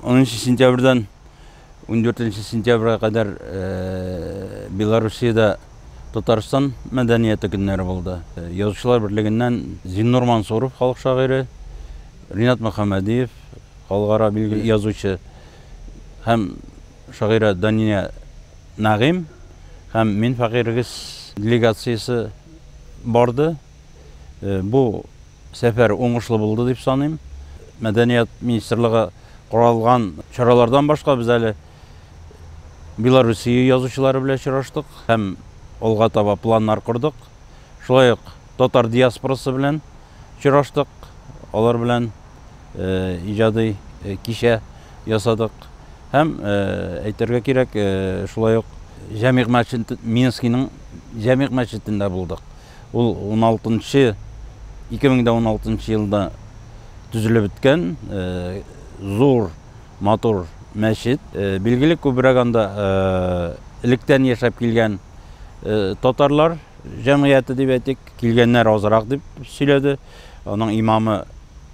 Онынчы сентябрьдан 14 сентябрьгә кадәр э, Белоруссиядә Татарстан мәдәнияты көннәре булды. Э, язучылар берлегеннән Зиннур Мансуров халык шагыйре, Ринат Мөхәммәдиев халыкара билгеле язучы, Һәм шагыйрә Дания Нәгыйм һәм Мин фәкыйрьгез делегациясе барды. Бу сәфәр уңышлы булды дип саныйм. Мәдәният министрлыгы каралган чаралардан башка без әле Белоруссия язучылары белән очраштык һәм алга таба планнар кордык. Шулай ук татар диаспорасы белән очраштык, алар белән иҗади кичә ясадык. Һәм әйтергә кирәк, шулай ук Җәмигъ мәчет Минскийның Җәмигъ мәчетендә булдык. Ул 16-нчы 2016 елда төзелеп беткән зур матур мәчет. Билгеле күбрәк анда электән яшәп килгән татарлар җәмгыяте дип әйтик, килгәннәр азрак дип сөйләде. Аның имамы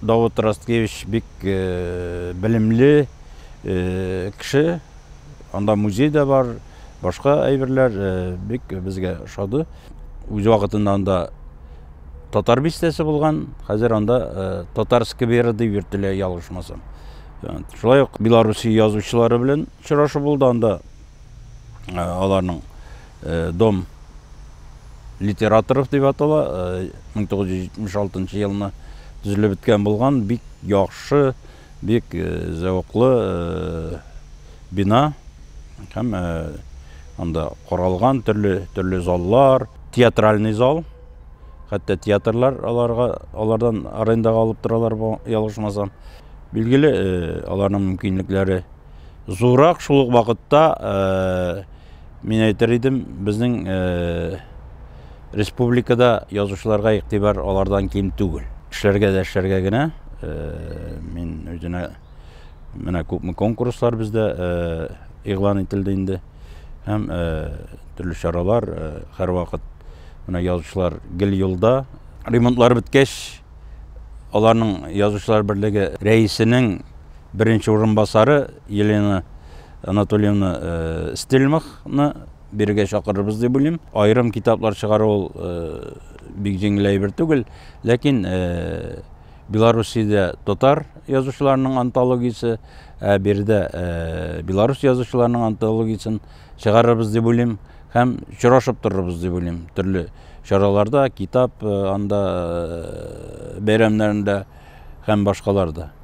Давыт Расткевич бик э, белемле э, кеше. Анда музей дә бар, башка әйберләр э, бик безгә ошады. Үз вакытында анда татар бистәсе булган, хәзер анда э, татар скверы дип йөртелә ялгышмасам. Шулай ук Белоруссия язучылары белән очрашу булды анда аларның дом литераторов дип атала 1976 елны төзелеп беткән булган бик яхшы бик зәвыклы бина һәм анда коралган төрле төрле заллар театральный зал хәтта театрлар аларга алардан арендаға алып торалар ялгышмасам билгеле аларның мөмкинлекләре Зурак шул ук вакытта мин әйтер идем, безнең республикада язучыларга игътибар алардан ким түгел. Эшләргә дә эшләргә генә мин үзенә менә күпме конкурслар бездә игълан ителде инде һәм төрле чаралар һәрвакыт менә язучылар гел юлда ремонтлар беткәч Аларның язучылар берлеге рәисенең беренче урынбасары Елена Анатольевна э, Стельмахны бирегә чакырырбыз дип уйлыйм. Аерым китаплар чыгару ул э, бик җиңел әйбер түгел, ләкин э, Белоруссиядә татар язучыларының антологиясе, ә биредә Беларусь язучыларының антологиясен чыгарырбыз дип уйлыйм һәм очрашып торырбыз дип уйлыйм төрле чараларда китап анда бәйрәмнәрендә һәм башкаларда